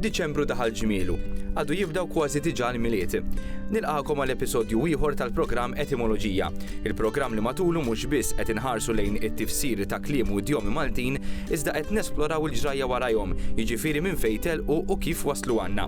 Diċembru daħal ġmielu. Għadu jibdaw kważi diġà l-miliet. Nilqakom għal episodju ieħor tal-programm Etimoloġija, il-programm li matulu mhux biss qed inħarsu lejn it-tifsir ta' kliem u djomi Maltin, iżda qed nesploraw il-ġrajja warajhom, jiġifieri minn fejn telqu u kif waslu għandna.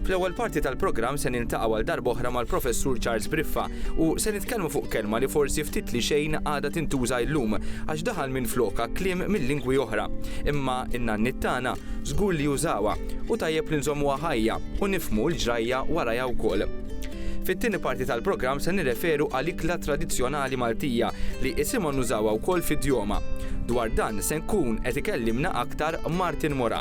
Fl-ewwel parti tal-programm se Niltaqgħu għal darba oħra mal-Professur Charles Briffa u se nitkellmu fuq kelma li forsi ftit li xejn għadha tintuża illum għax daħal minflokha kliem minn lingwi oħra. Imma n-nanniet tagħna żgur li użawha u tajjeb li nżommuha ħajja u nifhmu l-ġrajja warajha wkoll. Fit-tieni parti tal-programm se nirreferu għal ikla tradizzjonali Maltija li isimha nużawha wkoll fid-djoma. Dwar dan se nkun qed ikellimna aktar Martin Moran.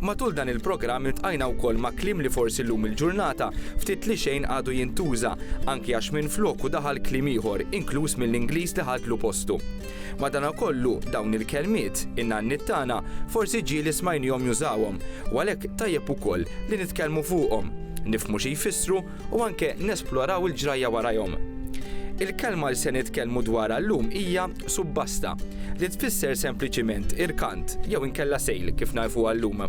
Matul dan il-programm iltqajna wkoll ma' kliem li forsi llum il-ġurnata ftit li xejn għadu jintuża, anki għax minfloku daħal kliem ieħor, inkluż mill-Ingliż li ħadlu postu. Madanakollu, dawn il-kelmiet, in-nanniet tagħna, forsi ġieli smajniehom jużawhom, u għalhekk tajjeb ukoll li nitkellmu fuqhom, nifhmu xi jfissru, u anke nesploraw il-ġrajja warajhom. Il-kelma li se nitkellmu dwarha llum hija subbasta, li tfisser sempliċiment irkant jew inkella sejl kif nagħrfuha llum.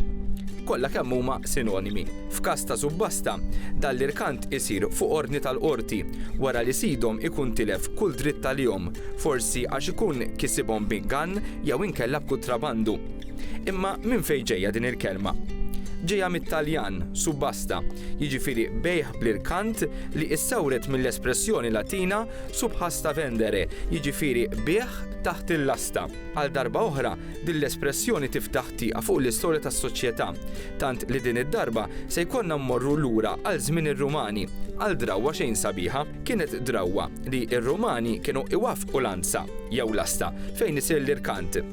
Kollha kemm huma sinonimi. F'każ ta' subbasta, dan l-irkant isir fuq ordni tal-qorti wara li sidhom ikun tilef kull dritt għalihom, forsi għax ikun kisibhom b'ingann jew inkella b'kutrabandu. Imma minn fejn ġejja din il-kelma? Ġejja mit-Taljan, subbasta, jiġifieri bejgħ bl-irkant li issawret mill-espressjoni Latina subhasta vendere, jiġifieri bigħ taħt il-lasta. Għal darba oħra, din l-espressjoni tiftaħ tieqa fuq l-istorja tas-soċjetà, tant li din id-darba se jkollna mmorru lura għal żmien ir-Rumani, għal drawwa xejn sabiħa. Kienet drawwa li r-Rumani kienu iwaffqu lanza, jew lasta, fejn isir l-irkant.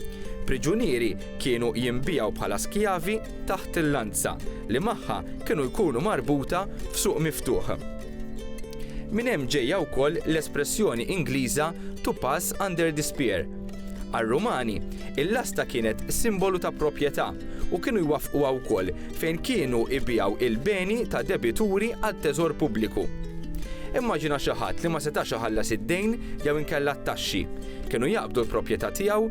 Priġunieri Kienu jinbiegħu bħala skjavi taħt il-lanza li magħha kienu jkunu marbuta f'suq miftuħ. Minn hemm ġejja wkoll l-espressjoni Ingliża to pass under the spear. Għar-Rumani, il-lasta kienet simbolu ta' proprjetà u kienu jwaffquha wkoll fejn kienu jbiegħu il-beni ta' debituri għat-teżor pubbliku. Immaġina xi ħadd li ma setax iħallas id-dejn jew inkella t-taxxi. Kienu jaqbdu l-proprjetà tiegħu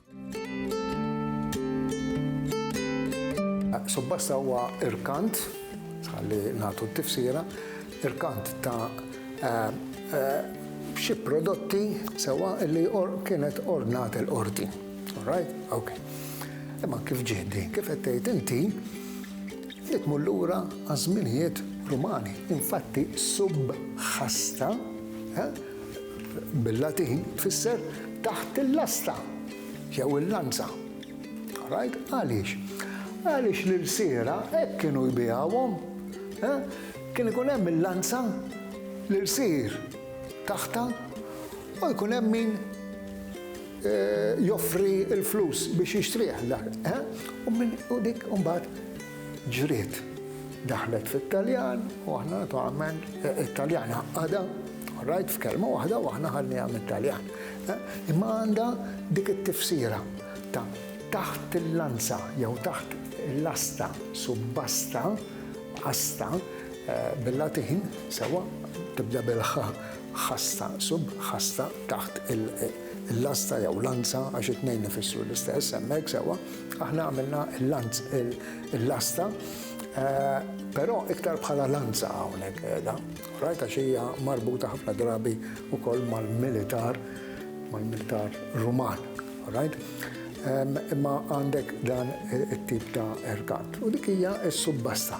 Subbasta huwa irkant, ħalli nagħtu t-tifsira, irkant ta' eh, eh, xi prodotti sewa li kienet ordnat il-qorti. Alright? Ok. Imma kif ġiedi, kif qed tgħid inti, li tmur lura għaż-żminijiet Rumani. Infatti subħasta eh, bil-Latin tfisser taħt il-lasta jew il-lanza. Right? Għaliex? Għaliex l-irsiera hekk kienu jbijawhom. Eh? Kien ikun hemm il-lanza l-irsir taħta u jkun hemm min eh, joffri l-flus biex jixtrih. Eh? U dik mbagħad Ġriet, daħlet fit-Taljan u aħna naturalment it-Taljan għaqqadha, all right, f'kelma waħda u aħna ħadniha mit-Taljan. Imma għandha dik it-tifsira ta' taħt il-lanza jew taħt il-lasta, subbasta, asta, bil-Latin, sewwa, tibda bil-ħa, ħasta, sub, ħasta, taħt il-lasta jew lanza għax it-tnejn ifissru l-istess hemmhekk, sewwa. Aħna għamilna l-lanz, il-lasta, eh, però iktar bħala lanza hawnhekk qiegħda. Rajta xija marbuta ħafna drabi wkoll mal-militar, mal-militar Ruman. Right? Imma għandek dan it-tip ta' erkat. U dik hija s-subbasta.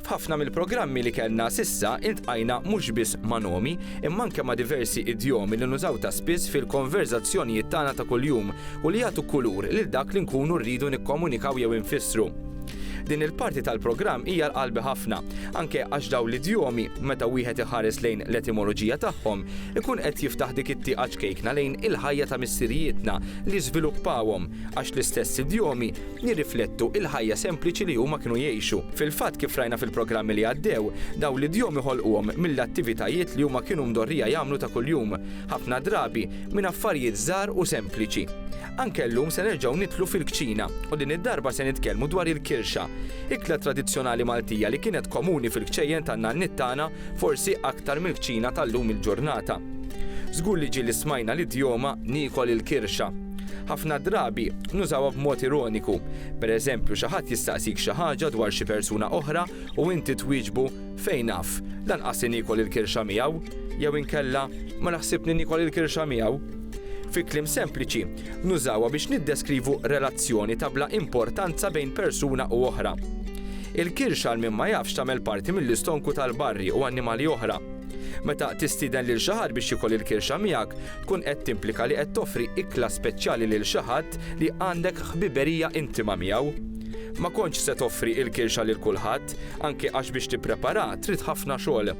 F'ħafna mill-programmi li kellna s'issa iltqajna mhux biss ma' nomi, imma anke ma' diversi idjomi li nużaw ta' spiss fil-konverżazzjonijiet tagħna ta' kuljum u li jagħtu kulur lil dak li nkunu rridu nikkomunikaw jew infissru. Din il-parti tal-programm hija għal qalbi ħafna, anke għax dawn l-idjomi, meta wieħed iħares lejn l-etimoloġija tagħhom, ikun qed jiftaħ dik it-tieqa ċkejkna lejn il-ħajja ta' missirijietna li żviluppawhom, għax l-istess idjomi jirriflettu l-ħajja sempliċi li huma kienu jgħixu. Fil-fatt, kif rajna fil-programmi li għaddew, dawn l-idjomi ħolquhom mill-attivitajiet li huma kienu mdorrija jagħmlu ta' kuljum, ħafna drabi minn affarijiet żgħar u sempliċi. Anke llum se nerġgħu nidħlu fil-kċina u din id-darba se nitkellmu dwar il-kirxa, ikla tradizzjonali Maltija li kienet komuni fil-kċejjen tan-nanniet tagħna forsi aktar mill-kċina tal-lum il-ġurnata. Żgur li ġieli smajna l-idjoma niekol il-kirxa. Ħafna drabi nużawha b'mod ironiku. Pereżempju, xi ħadd jistaqsik xi ħaġa dwar xi persuna oħra u inti twieġbu, Fejn af? Lanqas li niekol il-kirxa miegħu! jew inkella, Ma naħsib li niekol il-kirxa miegħu! Fi kliem sempliċi, nużawha biex niddeskrivu relazzjoni ta' bla importanza bejn persuna u oħra. Il-kirxa għal min ma jafx tagħmel parti mill-istonku tal-barri u annimali oħra. Meta tistieden lil xi ħadd biex jiekol il-kirxa miegħek, tkun qed timplika li qed toffri ikla speċjali lil xi ħadd li għandek ħbiberija intima miegħu. Ma kontx se toffri il-kirxa lil kulħadd, anke għax biex tipprepara trid ħafna xogħol.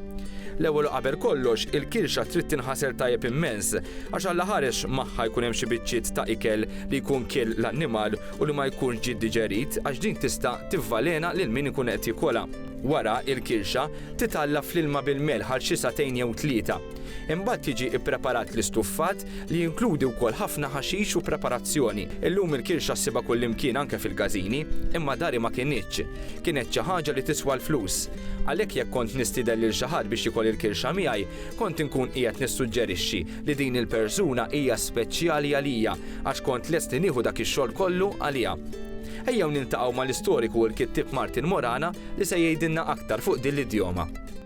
L-ewwel u qabel kollox, il-kirxa trid tinħasel tajjeb immens, għax alla ħares magħha jkun hemm xi biċċiet ta' ikel li jkun kiel l-annimal u li ma jkunx ġie diġerit għax din tista' tivvalena lil min ikun qed jikolha. Wara, il-kirxa titgħalla fl-ilma bil-melħ għal xi sagħtejn jew tlieta. Imbagħad jiġi ppreparat l-istuffat, li jinkludi wkoll ħafna ħaxix u preparazzjoni. Illum il-kirxa ssibha kullimkien anke fil-każini, imma dari ma kinitx. Kienet xi ħaġa li tiswa l-flus. Għalhekk jekk kont nistieden lil xi ħadd biex jikol il-kirxa miegħi, kont inkun qiegħed nissuġġerixxi li din il-persuna hija speċjali għalija għax kont lest li nieħu dak ix-xogħol kollu għaliha. Ejjew niltaqgħu mal-istoriku u l-kittieb Martin Morana li se jgħidilna aktar fuq din l-idjoma.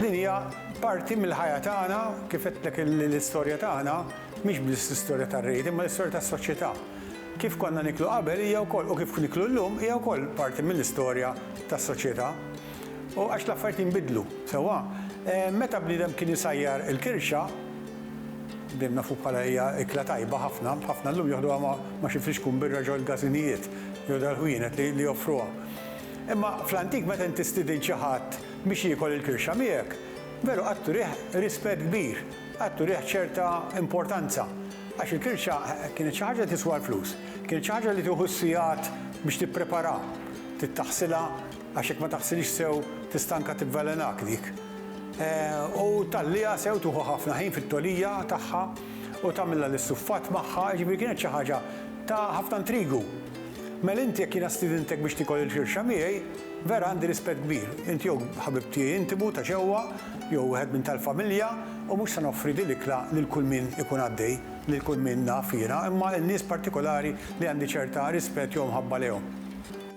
Din hija parti mill-ħajja tagħna, kif għedtlek l-istorja tagħna mhix biss l-istorja tar-Reid imma l-istorja tas-soċjetà. Kif konna niklu qabel hija wkoll u kif niklu llum hija wkoll parti mill-istorja tas-soċjetà. U għax l-affarijiet jinbidlu, sewwa? Meta bniedem kien isajjar il-kirxa, dejjem nafu bħala hija ikla tajba ħafna, ħafna llum joħduha ma' xi flixkun birra ġol-gażinijiet. jew dal-ħwienet li joffruha. Imma fl-antik meta inti stidint xi ħadd biex jiekol il-kirxa miegħek, veru qatt turih rispett kbir, qatt turih ċerta importanza, għax il-kirxa kienet xi ħaġa li tiswa l-flus, kienet xi ħaġa li tieħu s-sigħat biex tippreparaha, trid taħsilha għax jekk ma taħsilhiex sew tista' anke tivvelenak dik, u tgħalliha sew, tieħu ħafna ħin fit-togħlija tagħha u tagħmilha l-istuffat magħha, jiġifieri kienet xi ħaġa Ta' ħafna intrigu. Mel inti jekk jiena stidintek biex tiekol il-firxa miegħi, vera għandi rispett kbir. Int jew ħabib tiegħi intimu ta' ġewwa, jew wieħed minn tal-familja, u mhux se noffri dil-ikla lil kull min ikun għaddej, lil kull min naf jiena, imma lil nies partikolari li għandi ċerta rispett jew mħabba lejhom.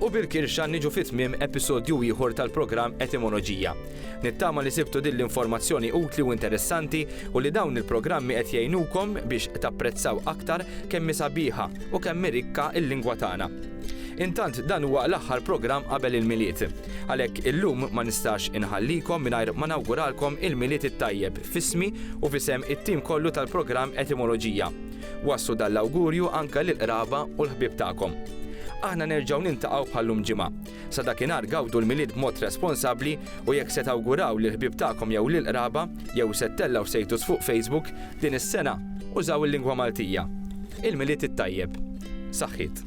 U bil-kirxa niġu fi tmiem episodju ieħor tal-programm Etimoloġija. Nittama li sibtu din l-informazzjoni utli u interessanti u li dawn il-programmi qed jgħinukom biex tapprezzaw aktar kemm hi sabiħa u kemm hi rikka l-lingwa tagħna. Intant dan huwa l-aħħar programm qabel il-Milied. Għalhekk illum ma nistax inħallikom mingħajr ma nawguralkom il-Milied it-tajjeb f'ismi u f'isem it-tim kollu tal-programm Etimoloġija. Wasslu dan l-awgurju anke lill-qraba u l-ħbieb tagħkom. Aħna nerġgħu niltaqgħu bħal llum ġimgħa. Sa dakinhar gawdu l-Milied b'mod responsabbli u jekk se tawguraw lill-ħbieb tagħkom jew lill-qraba jew se ttellgħu status fuq Facebook din is-sena, użaw il-lingwa Maltija. Il-Milied it-tajjeb. Saħħiet.